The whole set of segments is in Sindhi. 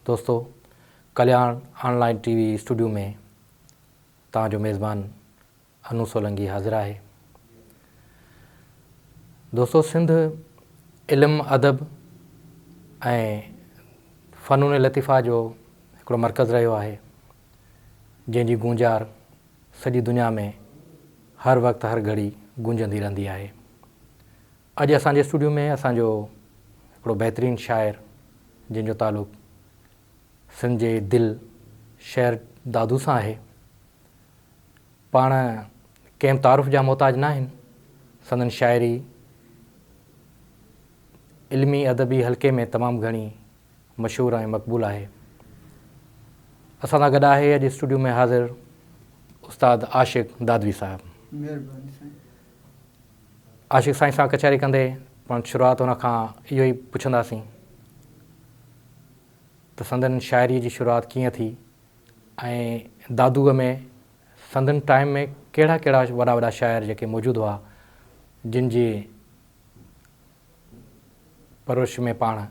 دوستو Kalyan online T V studio ۾ توهان جو ميزبان انو سولنگي حاضر آهي دوستو سنڌ علم ادب ۽ فنون لطيفه جو هڪڙو مرڪز رهيو آهي جنهن جي گونجار سڄي دنيا ۾ هر وقت هر گهڙي گونجندي رهندي آهي اڄ اسان جي اسٽوڊيو ۾ اسان جو هڪڙو بهترين شاعر جنهن جو تعلق سنڌ جي دل شهر دادو سان آهي. پاڻ ڪنهن به تعارف جا محتاج نه آهن. سندن شاعري علمي ادبي حلقي ۾ تمام گهڻي مشهور ۽ مقبول آهي. اسان سان گڏ آهي اڄ اسٽوڊيو ۾ حاضر استاد عاشق دادوي صاحب. مهرباني سائين. عاشق سائين سان ڪچهري ڪندي پاڻ شروعات هن کان اهو ئي پڇنداسين ته سندن شاعريء جي شروعات ڪيئن ٿي ۽ دادوء ۾ سندن ٽائيم ۾ ڪهڙا ڪهڙا وڏا وڏا شاعر جيڪي موجود هئا جن جي پرورش ۾ پاڻ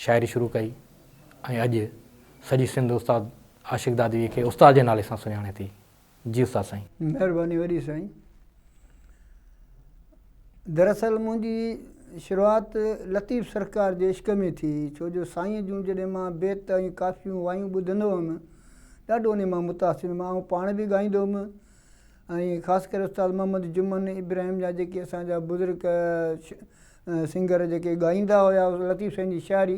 شاعري شروع ڪئي ۽ اڄ سڄي سنڌ استاد عاشق دادويء کي استاد جي نالي سان سڃاڻي ٿي. جي استاد سائين. مهرباني وڏي سائين. دراصل منهنجي شروعات لطيف سرڪار جي عشق ۾ ٿي ڇو جو سائين جون جڏهن مان بيت ۽ ڪافيون وايون ٻڌندو هئم ڏاڍو انهي مان متاثر هئم آئون پاڻ به ڳائيندو هئم ۽ خاص ڪري استاد محمد جمن ابراهيم جا جيڪي اسان جا بزرگ سنگر جيڪي ڳائيندا هيا لطيف سائين جي شاعري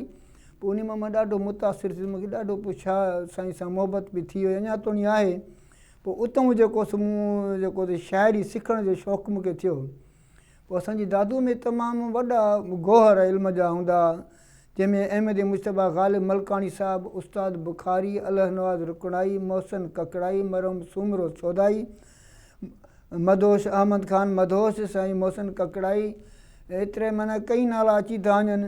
پوء انهي مان مان ڏاڍو متاثر ٿيس مونکي ڏاڍو پوء شاهه سائين سان محبت به ٿي وئي اڃا توڻي آهي پوء اتهون جيڪو سو مون جيڪو سو شاعري سکڻ جو شوق مونکي ٿيو پوء اسان جي دادوء ۾ تمام وڏا گوهر علم جا هوندا جنهن ۾ احمد مجتبيٰ غالب ملڪاڻي صاحب، استاد بخاري، الله نواز رڪڻائي، محسن ڪڪڙائي، مرحوم سومرو سودائي، مدهوش احمد خان مدهوش، سائين محسن ڪڪڙائي ايتري معنيٰ ڪئين نالا اچي ٿا وڃن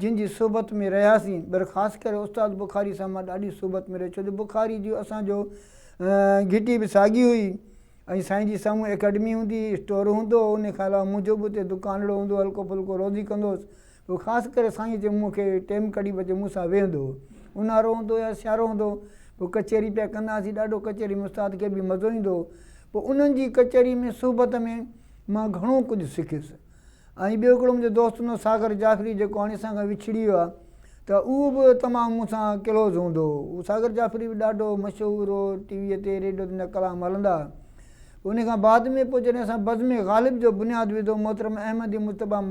جن جي صحبت ۾ رهياسين پر خاص ڪري استاد بخاري صاحب مان ڏاڍي صحبت ۾ رهي ڇو جو بخاري جي اسان جو گهٽي به ساڳي هئي ۽ سائين جي سامهون اڪيڊمي هوندي هئي اسٽور هوندو هو انهي کان علاوه منهنجو به اتي دڪانڙو هوندو هو هلڪو ڦلڪو روزي ڪندو هوس هو خاص ڪري سائين جي مون کي ٽيم ڪڍي به اچي مون سان ويهندو هو. اونهارو هوندو يا سيارو هوندو پوء ڪچهري پيا ڪندا هئاسين ڏاڍو ڪچهري ۾ استاد کي به مزو ايندو هو پوء انهن جي ڪچهري ۾ صحبت ۾ مان گهڻو ڪجهه سکيس ۽ ٻيو هڪڙو منهنجو دوست هوندو هو ساگر جعفري جيڪو هاڻي اسان کان وڇڙي ويو آهي ته اهو به تمام مون سان ڪلوز هوندو هو اهو ساگر جعفري به ڏاڍو مشهور هو ٽي وي تي ريڊيو تي ان جا ڪلام هلندا هئا انهي کان بعد ۾ پوء جڏهن اسان بزم غالب جو بنياد وڌو محترم احمد مجتبيٰ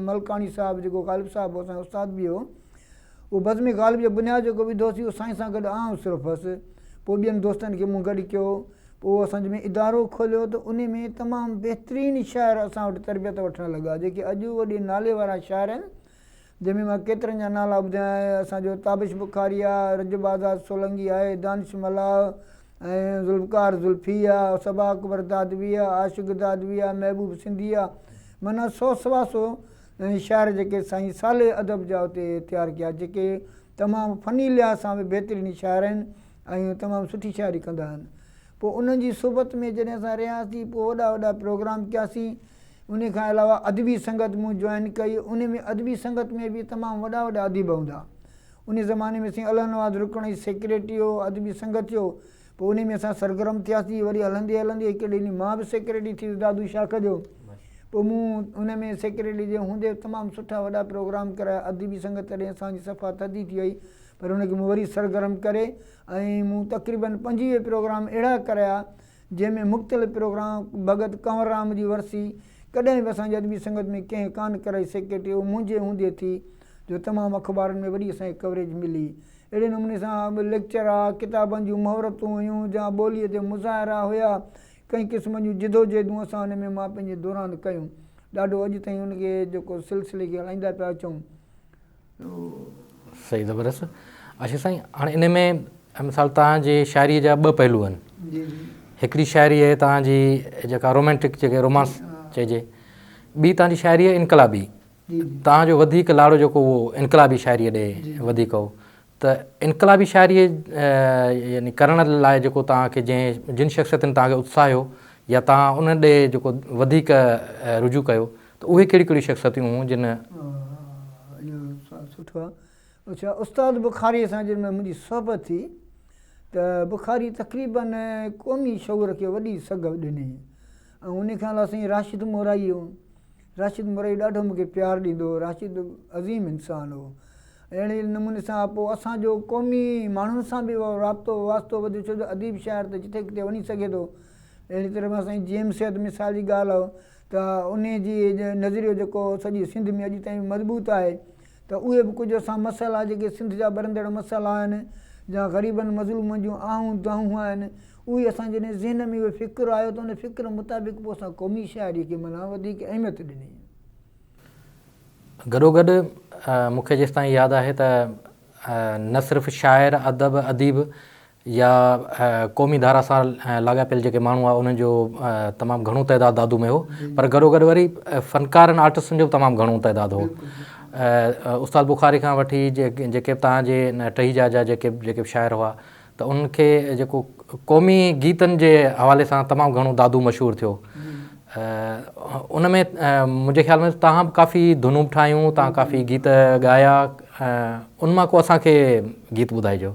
ملڪاڻي صاحب جيڪو غالب صاحب اسان جو استاد به هو اهو بزم غالب جو بنياد جيڪو وڌو سي اهو سائين سان گڏ آئون صرف هوس پوء ٻين دوستن کي مون گڏ ڪيو پوء اهو اسان ۾ ادارو کوليو ته انهي ۾ تمام بهترين شاعر اسان وٽ تربيت وٺڻ لڳا جيڪي اڄ وڏي نالي وارا شاعر آهن جنهن ۾ مان ڪيترن جا نالا ٻڌايان ۽ اسان جو تابش بخاريا، رجب آزاد سولنگي آهي، دانش ملاح ۽ ذوالفقار ذلفي آ، صبا اڪبر دادوي آ، عاشق دادوي آ، محبوب سنڌي آ، معنيٰ سو سوا سو شاعر جيڪي سائين صالح ادب جا اتي تيار ڪيا جيڪي تمام فني لحاظ سان به بهترين شاعر آهن ۽ تمام سٺي شاعري ڪندا آهن. پوء انهن جي صحبت ۾ جڏهن اسان رهياسين پوء وڏا وڏا پروگرام ڪياسين. انهي کان علاوه ادبي سنگت مون جوائن ڪئي. انهي ۾ ادبي سنگت ۾ به تمام وڏا وڏا اديب هوندا. انهي زماني ۾ سائين الله نواز رڪڻي سيڪريٽري هو ادبي سنگت جو. پوء انهي ۾ اسان سرگرم ٿياسين. وري هلندي هلندي هڪڙي ڏينهن مان به سيڪريٽري ٿي ويس دادو شاخ جو. پوء مون ان ۾ سيڪريٽري جي هوندي تمام سٺا وڏا پروگرام ڪرايا. ادبي سنگت تڏهن اسان جي صفا ٿڌي ٿي وئي پر ان کي مون وري سرگرم ڪري. ۽ مون تقريباً پنجويهه پروگرام اهڙا ڪريا، جنهن ۾ مختلف پروگرام ڀڳت ڪنور رام جي ورسي ڪڏهن به اسان جي ادبي سنگت ۾ ڪنهن ڪانه ڪرائي سيڪريٽري اهو منهنجي هوندي ٿي جو تمام اخبارن ۾ وڏي اسان کي ڪوريج ملي اهڙي نموني سان ليڪچر ها ڪتابن جون مهورتون هيون جا ٻوليء تي مظاهرا هيا ڪئين قسمن جون جدوجهدون اسان ان ۾ مان پنهنجي دوران ڪيون ڏاڍو اڄ تائين ان کي جيڪو سلسلي کي هلائيندا پيا اچون. صحيح زبردست اشرف سائين هاڻي ان ۾ مثال توهان جي شاعري جا ٻه پهلو آهن هڪڙي شاعري آهي توهان جي جيڪا رومانٽڪ جيڪي رومانس چئجي ٻي توهان جي شاعري آهي انقلابي توهان جو وڌيڪ لاڙو جيڪو هو انقلابي شاعري ڏي وڌيڪ هو ته انقلابي شاعري يعني ڪرڻ لاء جيڪو توهان کي جنهن جن شخصيتن توهان کي اتساهيو يا توهان ان ڏي جيڪو وڌيڪ رجوع ڪيو ته اهي ڪهڙيون ڪهڙيون شخصيتون هيون جن. اهو سوال سٺو آهي. اڇا استاد بخاريء سان جڏهن منهنجي صحبت ٿي ته بخاري تقريباً قومي شعور کي وڏي سگهه ڏني ۽ انهي کان علاوه سائين راشد مورائي هو. راشد مورائي ڏاڍو مون کي پيار ڏيندو هو. راشد عظيم انسان هو. اهڙي نموني سان پوء اسان جو قومي ماڻهن سان به رابطو واسطو وڌيو ڇو جو اديب شاعر ته جتي ڪٿي وڃي سگهي ٿو. اهڙي طرح سان سائين جي ايم سيد مثال جي ڳالهه ته انهي جي نظريو جيڪو سڄي سنڌ ۾ اڄ تائين مضبوط آهي ته اهي به ڪجهه اسان مسئلا جيڪي سنڌ جا ٻرندڙ مسئلا آهن يا غريبن مظلومن جون آهون دانهون آهن اهي اسان جي ذهن ۾ اهو فڪر آيو ته ان فڪر مطابق پوء اسان قومي شاعري کي معنيٰ وڌيڪ اهميت ڏني. گڏوگڏ مون کي جيستائين ياد آهي ته نه صرف شاعر، ادب، اديب يا قومي ڌارا سان لاڳاپيل جيڪي ماڻهو هئا انهن جو تمام گهڻو تعداد دادو ۾ هو پر گڏوگڏ وري فنڪارن آرٽسٽن جو به تمام گهڻو تعداد هو استاد بخاري کان وٺي جيڪي به تان جي ٽهي جا جا جيڪي جيڪي به شاعر هئا ته انهن کي جيڪو قومي گيتن جي حوالي سان تمام گهڻو دادو مشهور ٿيو ان ۾ منهنجي خيال ۾ تان به ڪافي ڌنون به ٺاهيون تان ڪافي گيت ڳايا ان مان ڪو اسان کي گيت ٻڌائجو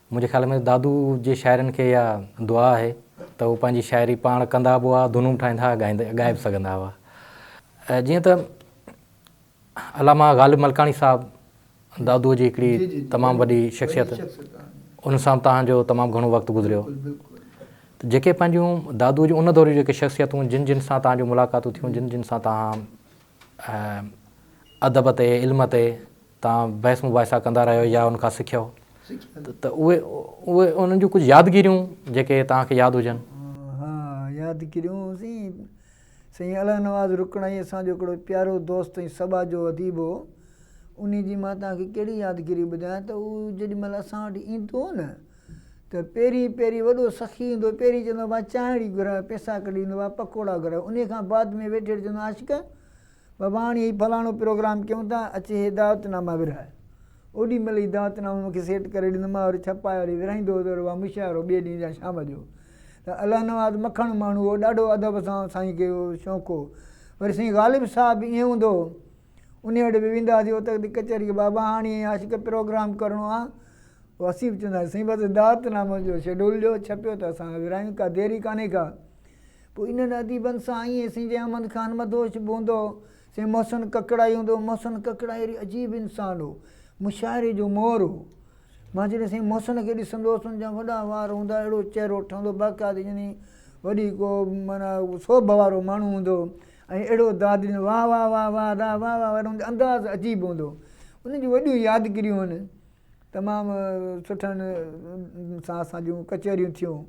منهنجي خيال ۾ دادو جي شاعرن کي اها دعا آهي ته هو پنهنجي شاعري پاڻ ڪندا به هئا، ڌنون به ٺاهيندا هئا، ڳائي به سگهندا هئا. جيئن ته علامه غالب ملڪاڻي صاحب دادوء جي هڪڙي تمام وڏي شخصيت ان سان توهان جو تمام گهڻو وقت گذريو ته جيڪي پنهنجون دادوء جون ان دور جون جيڪي شخصيتون جن جن سان توهان جون ملاقاتون ٿيون جن جن سان توهان ۽ ادب تي، علم تي توهان بحث مباحثا ڪندا رهيو يا ان کان سکيو ته اهي اهي انهن جون ڪجهه يادگيريون جيڪي توهان کي ياد هجن. ها يادگيريون سائين سائين الله نواز رڪڻائي اسان جو هڪڙو پيارو دوست ۽ سٻاء جو اديب هو انهي جي مان توهان کي ڪهڙي يادگيري ٻڌايان ته هو جيڏي مهل اسان وٽ ايندو هو نه ته پهرين پهرين وڏو سخي ايندو پهرين چوندو آ مان چانهڙي گهران پئسا ڪڍي ڏيندو آ پڪوڙا گهران انهي کان بعد ۾ ويٺي ويٺي چوندو آ عاشق بابا هاڻي هي فلاڻو پروگرام ڪيون ٿا اچ هي دعوت ناما ورهاء اوڏي مهل هي دعوت نامو مون کي سيٽ ڪري ڏيندو مان وري ڇپائي وري ورهائيندو هوس وري اها مشاعرو ٻئي ڏينهن جا شام جو ته الله نواز مکڻ ماڻهو هو ڏاڍو ادب سان سائين کي شوق هو وري سائين غالب صاحب به ائين هوندو هو انهي وٽ به ويندا هئاسين اوت به ڪچهري بابا هاڻي ائين آهي ته پروگرام ڪرڻو آهي پوء اسين به چوندا هئاسين سائين بس دعوت نامو جو شيڊول ڏيو ڇپيو ته اسان ورهايون ڪا دير ئي ڪانهي ڪا پوء انهن اديبن سان ائين سائين جي احمد خان مدهوش به هوندو هو سائين محسن ڪڪڙائي هوندو هو محسن ڪڪڙائي اهڙي عجيب انسان هو مشاعري جو مور هو مان جڏهن سائين محسن کي ڏسندو هوس ان جا وڏا وار هوندا هئا اهڙو چهرو ٺهندو باقاعدي يعني وڏي ڪو معنيٰ سوڀ وارو ماڻهو هوندو هو ۽ اهڙو داد ڏيندو، واهه واهه واهه واهه ادا واهه واهه واهه ان جو انداز عجيب هوندو هو ان جون وڏيون يادگريون آهن تمام سٺن سان اسان جون ڪچهريون ٿيون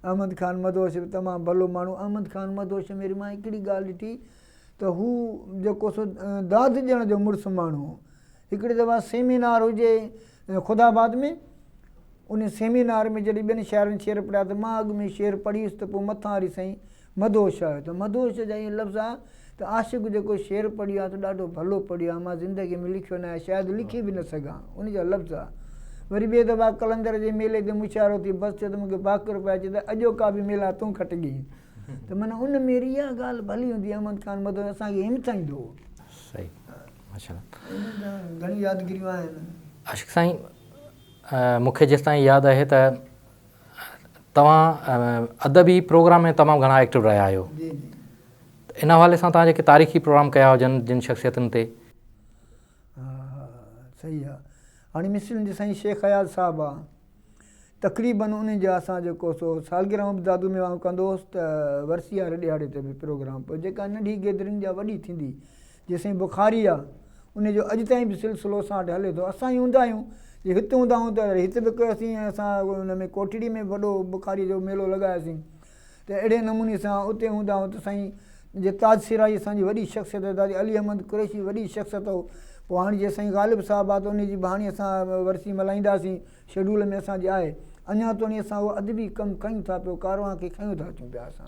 احمد خان مدهوش به تمام ڀلو ماڻهو احمد خان مدهوش ۾ وري مان هڪڙي ڳالهه ڏٺي ته هو جيڪو سو داد ڏيڻ جو مڙس ماڻهو هو هڪڙي دفعي سيمينار هجي خدا آباد ۾ ان سيمينار ۾ جڏهن ٻين شاعرن شعر پڙهيا ته مان اڳ ۾ شعر پڙهيس ته پوء مٿان وري سائين مدهوش آيو ته مدهوش جا ائين لفظ آيا ته عاشق جيڪو شعر پڙهيو آهي ته ڏاڍو ڀلو پڙهيو آهي مان زندگي ۾ لکيو ناهي شايد لکي به نه سگهان ان جا لفظ آ وري ٻي دفعي قلندر جي ميلي تي مشاعرو ٿي بس چيو ته مونکي باقر پيا چي ته اڄوڪا به ميلا تون کٽجين ته معنيٰ ان ميري اها ڳالهه ڀلي هوندي احمد خان مدهوش اسان کي همٿائيندو هو صحيح عاشق سائين مون کي جيستائين ياد آهي ته توهان ادبي پروگرام ۾ تمام گهڻا ايڪٽو رهيا آهيو ان حوالي سان توهان جيڪي تاريخي پروگرام ڪيا هجن جن شخصيتن تي صحيح آ هاڻي مصرين جي سائين شيخ اياز صاحب آ تقريبن انهن جا اسان جيڪو سو سالگرهه به دادو ميوان ڪندو هوس ته ورسي واري ڏهاڙي تي به پروگرام پوء جيڪا ننڍي گيدرنگ جا وڏي ٿيندي جيسين بخاري آ انهي جو اڄ تائين به سلسلو اسان وٽ هلي ٿو اسان ئي هوندا آهيون جي هت هوندا آهيون ته هت به ڪيوسين ۽ اسان ان ۾ ڪوٽڙي ۾ به وڏو بخاري جو ميلو لڳايوسين ته اهڙي نموني سان اتي هوندا آهيون ته سائين جي تاج سرائي اسان جي وڏي شخصيت هئي دادي علي احمد قريشي وڏي شخصيت هو پوء هاڻي جي سائين غالب صاحب آ ته انهي جي بهاني اسان ورسي ملهائينداسين شيڊول ۾ اسان جي آهي. اڃا توڻي اسان اهو ادبي ڪم ڪيون ٿا پيو ڪاروان کي کنيون ٿا اچون پيا اسان.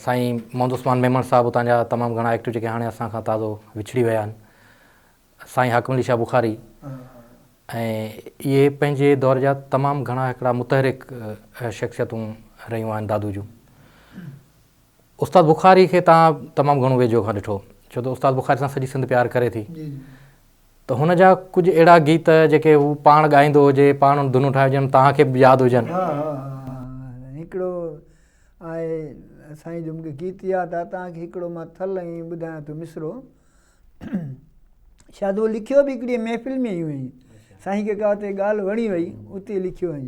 سائين محمد عثمان ميمڻ صاحب اتان جا تمام گهڻا ايڪٽو جيڪي هاڻي اسان کان تازو وڇڙي ويا آهن سائين حاڪم علي شاهه بخاري ۽ اهي پنهنجي دور جا تمام گهڻا هڪڙا متحرڪ شخصيتون رهيون آهن دادو جون. استاد بخاري کي توهان تمام گهڻو ويجهو کان ڏٺو ڇو ته استاد بخاري سان سڄي سنڌ پيار ڪري ٿي ته هن جا ڪجهه اهڙا گيت جيڪي هو پاڻ ڳائيندو هجي پاڻ ڌنون ٺاهي هجن توهان کي به ياد هجن ها ها هڪڙو آهي سائين جو مونکي گيت ياد آهي توهان کي هڪڙو مان ٿل ائين ٻڌايان ٿو مصرعو شايد اهو لکيو به هڪڙي محفل ۾ هئي سائين کي ڪا اتي ڳالهه وڻي وئي اتي لکيو هئي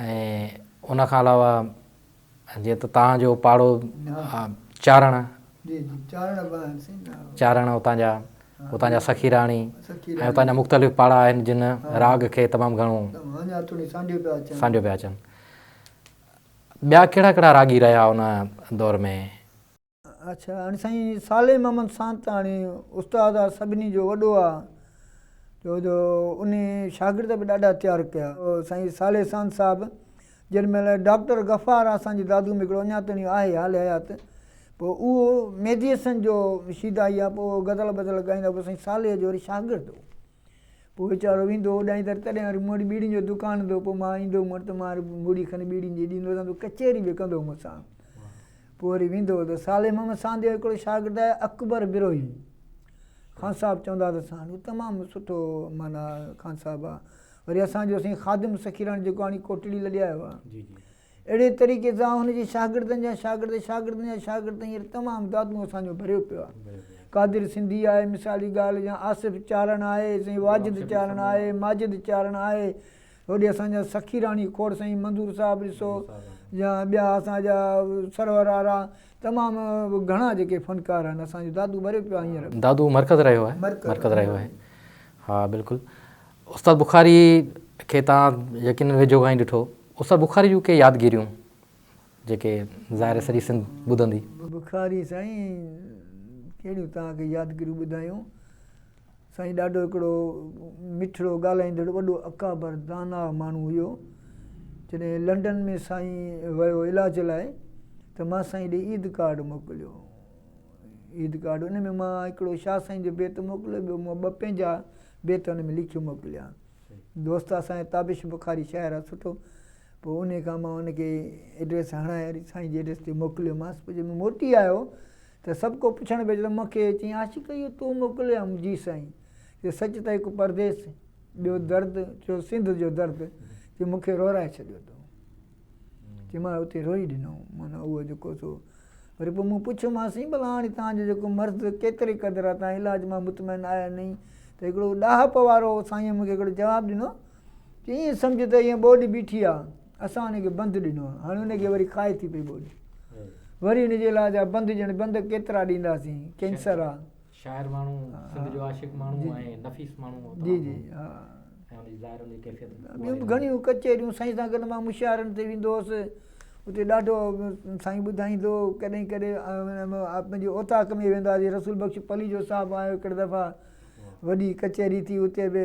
۽ ان کان علاوه جيئن ته تان جو پاڙو چارڻ چارڻ اتان جا اتان جا سخي راڻي ۽ اتان جا مختلف پاڙا آهن جن راڳ کي تمام گهڻو سانڍيو پيا اچن ٻيا ڪهڙا ڪهڙا راڳي رهيا ان دور ۾ اڇا هاڻي سائين صالح محمد سانتاڻي استاد آ سڀني جو وڏو آ جو جو ان شاگرد به ڏاڍا تيار ڪيا سائين صالح سانت صاحب جن مهل ڊاڪٽر غفار آ اسان جي دادو ميڪڙو اڃا تائين آهي حال حيات پو اهو ميديسن جو شيدائي آ پو غزل بزل ڳائيندا پو سائين صالح جو وري شاگرد هو پوء ويچارو ويندو اوڏانهين تر تڏهن وري مون وٽ ٻيڙين جو دڪان هوندو هو پوء مان ايندو هوم ته مان وري مڙي کن ٻيڙين جي ڏيندو هوسان ته ڪچهري به ڪندو هو مون سان پوء وري ويندو هو ته صالح محمد ساند جو هڪڙو شاگرد آهي اڪبر بروهي خان صاحب چوندا هئا ته ساند هو تمام سٺو معنيٰ خان صاحب آهي وري اسان جو سائين خادم سخي راڻي جيڪو هاڻي ڪوٽڙي لڏي آيو آهي اهڙي طريقي سان هن جي شاگردن جا شاگرد شاگردن جا شاگرد تائين هينئر تمام دادون اسان جو ڀريو پيو آهي. قادر سنڌي آهي مثال جي ڳالهه جيان آصف چارڻ آهي سائين واجد چارڻ آهي ماجد چارڻ آهي هوڏي اسان جا سخي راڻي کوڙ سائين منظور صاحب ڏسو يا ٻيا اسان جا سرور آرا تمام گهڻا جيڪي فنڪار آهن اسان جو دادو ڀريو پيو آهي هينئر. دادو مرڪز رهيو آهي. مرڪز رهيو آهي. ها بلڪل. استاد بخاري کي تان يقينن ويجهو کان ئي ڏٺو استاد بخاري جون ڪي يادگيريون جيڪي ظاهر سڄي سنڌ ٻڌندي. بخاري سائين ڪهڙيون توهان کي يادگيريون ٻڌايون. سائين ڏاڍو هڪڙو مٺڙو ڳالهائيندڙ وڏو اڪابر داناء ماڻهو هيو. جڏهن لنڊن ۾ سائين ويو علاج لاء ته مان سائين ڏي عيد ڪارڊ موڪليو. عيد ڪارڊ ان ۾ مان هڪڙو شاهه سائين جو بيت موڪليو ٻيو مان ٻه پنهنجا بيت ان ۾ لکي موڪليا. دوست اسان جي تابش بخاري شاعر آ سٺو پوء انهي کان مان ان کي ايڊريس هڻائي وري سائين جي ايڊريس تي موڪليو مانس پوء جڏهن موٽي آيو ته سڀ ڪو پڇڻ پئي لڳو مون کي چيائين عاشق اهو تون موڪليو يا مون جي سائين چيو سچ ته هڪ پرديس ٻيو درد ٽيون سنڌ جو درد چيو مون کي رورائي ڇڏيو تو. چي مان اتي روئي ڏنو معنيٰ اهو جيڪو سو وري پوء مون پڇيو مان سائين ڀلا هاڻي تهان جو جيڪو مرض ڪيتري قدر آهي تهان علاج مان مطمئن آهيا نه آهي ته هڪڙو ڏاهپ وارو سائينء مون کي هڪڙو جواب ڏنو چي ائين سمجهه ته هيء ٻوڏ بيٺي آهي اسان ان کي بند ڏنو آهي هاڻي ان کي وري کائي ٿي پئي ٻوڏ وري ان جي علاج جا بند ڄڻ بند ڪيترا ڏينداسين ڪينسر آهي شاعر ماڻهو سنڌ جو عاشق ماڻهو ۽ نفيس ماڻهو هو جي جي ها ۽ ان جي ظاهر ان جي ڪيفيت ٻيون به گهڻيون ڪچهريون سائين سان گڏ مان مشاعرن تي ويندو هوس اتي ڏاڍو سائين ٻڌائيندو ڪڏهن ڪڏهن پنهنجي اوطاق ۾ وينداسي رسول بخش پليجو صاحب آيو هڪڙي دفعا وڏي ڪچهري ٿي اتي به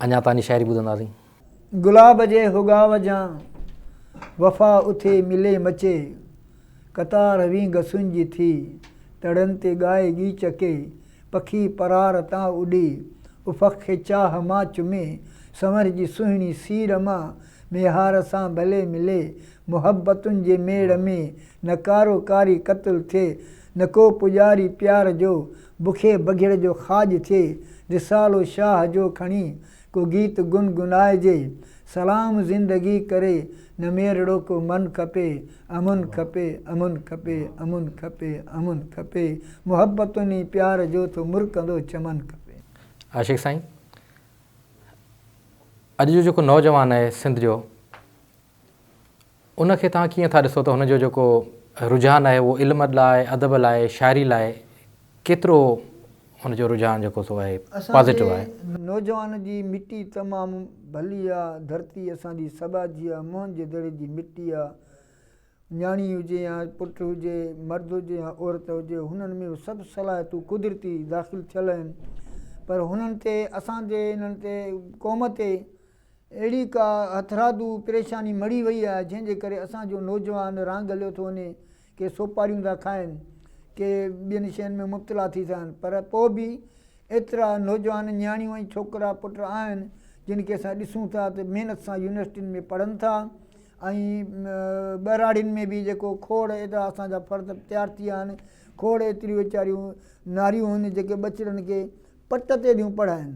اڃا تانجي شاعري ٻڌنداسين. گلاب جي هوڳاو جان، وفا اٿي ملي مچي، قطار وين گسن جي ٿي، تڙن تي ڳائي ڳي چڪي، پکي پرار تان اڏي، افق کي چاهه مان چمي، سنور جي سهڻي سير مان، ميهار سان ڀلي ملي، محبتن جي ميڙ ۾، نڪارو ڪاري قتل ٿئي، نڪو پڄاري پيار جو، بکي بگهڙ جو خاڄ ٿئي، رسالو شاهه جو کڻي ڪو گيت گن گنائجي، سلام زندگي ڪري نميرڙو ڪو من کپي، امن کپي، امن کپي، امن کپي، امن کپي، محبتن ۽ پيار جو ٿو مرڪندو چمن کپي. عاشق سائين اڄ جو جيڪو نوجوان آهي سنڌ جو. ان کي توهان ڪيئن ٿا ڏسو ته هن جو جيڪو رجحان آهي اهو علم لاء، ادب لاء، شاعري لاء ڪيترو ان جو رجحان جيڪو سو آهي پازيٽو آهي؟ اسان جي نوجوان جي مٽي تمام ڀلي آ، ڌرتي اسان جي سٻا جي آ، موهن جي دڙي جي مٽي آ، نياڻي هجي يا پٽ هجي، مرد هجي يا عورت هجي، هنن ۾ اهي سڀ صلاحيتون قدرتي داخل ٿيل آهن، پر هنن تي اسان جي انهن تي قوم تي اهڙي ڪا هٿرادو پريشاني مڙهي وئي آهي جنهن جي ڪري اسان جو نوجوان رانگ هليو ٿو وڃي، ڪي سوپاريون ٿا کائن، ڪي ٻين شين ۾ مبتلا ٿي ٿا وڃن پر پوء به ايترا نوجوان نياڻيون ۽ ڇوڪرا پٽ آهن جن کي اسان ڏسون ٿا ته محنت سان يونيورسٽين ۾ پڙهن ٿا ۽ ٻهراڙين ۾ به جيڪو کوڙ ايترا اسان جا فرد تيار ٿي ويا آهن کوڙ ايتريون ويچاريون ناريون آهن جيڪي ٻچڙن کي پٽ تي ٿيون پڙهائن.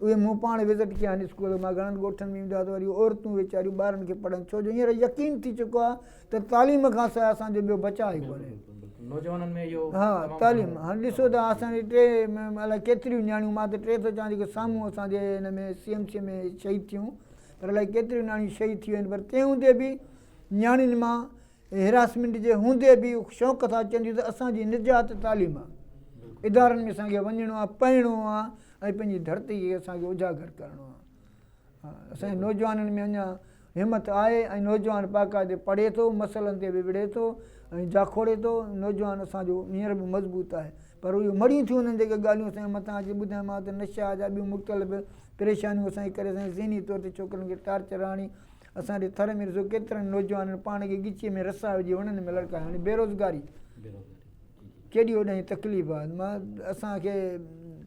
اهي مون پاڻ وزٽ ڪيا آهن اسڪول مان گهڻن ڳوٺن ۾ ويندو آهيان ته وري اهي عورتون ويچاريون ٻارن کي پڙهن ڇو جو هينئر يقين ٿي چڪو آهي ته تعليم کان سواء اسان جو ٻيو بچاء ئي ڪونهي. نوجوانن ۾ اهو ها تعليم هاڻ ڏسو ته اسان جي ٽي الائي ڪيتريون نياڻيون مان ته ٽي ٿو چوان جيڪي سامهون اسان جي هن ۾ سي ايم سي ۾ شهيد ٿيون پر الائي ڪيتريون نياڻيون شهيد ٿي ويون آهن پر تنهن هوندي به نياڻين مان هيراسمينٽ جي هوندي به هو شوق سان چونديون ته اسان جي نجات تعليم آ. ادارن ۾ اسان کي وڃڻو آ، پڙهڻو آ ۽ پنهنجي ڌرتي کي اسان کي اجاگر ڪرڻو آ. اسان جي نوجوانن ۾ اڃا همت آهي ۽ نوجوان باقاعدي پڙهي ٿو، مسئلن تي به وڙهي ٿو ۽ جاکوڙي ٿو. نوجوان اسان جو هينئر به مضبوط آهي. پر اهي مڙيون ٿيون انهن جيڪي ڳالهيون اسان کي مٿان اچي ٻڌايون مان ته نشا جا ٻيون مختلف پريشانيون اسان جي ڪري اسان جي ذهني طور تي ڇوڪرن کي ٽارچر آڻي اسان جي ٿر ۾ ڏسو ڪيترن نوجوانن پاڻ کي ڳچيء ۾ رسا وجهي وڻن ۾ لڙڪايو يعني بيروزگاري ڪيڏي وڏي تڪليف آهي مان اسان کي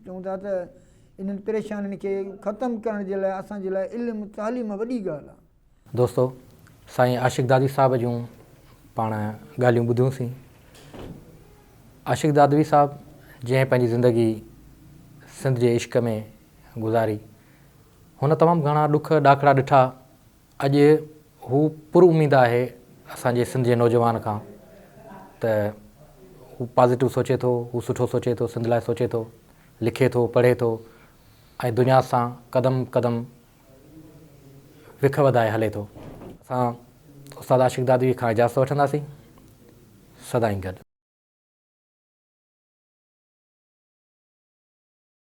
چون ٿا ته انهن پريشانين کي ختم ڪرڻ جي لاء اسان جي لاء علم تعليم وڏي ڳالهه آهي. دوستو سائين عاشق دادوي صاحب جون پاڻ ڳالهيون ٻڌيون سين. عاشق دادوي صاحب جنهن پنهنجي زندگي سنڌ جي عشق ۾ گذاري هن تمام گهڻا ڏک ڏاکڙا ڏٺا، اڄ هو پر اميد آهي اسان جي سنڌ جي نوجوان کان ته هو پازيٽو سوچي ٿو، هو سٺو سوچي ٿو، سنڌ لاء سوچي ٿو، لکي ٿو، پڙهي ٿو ۽ دنيا سان قدم قدم وک وڌائي هلي ٿو. اسان استاد عاشق دادويء کان اجازت وٺنداسين. سدائين گڏ.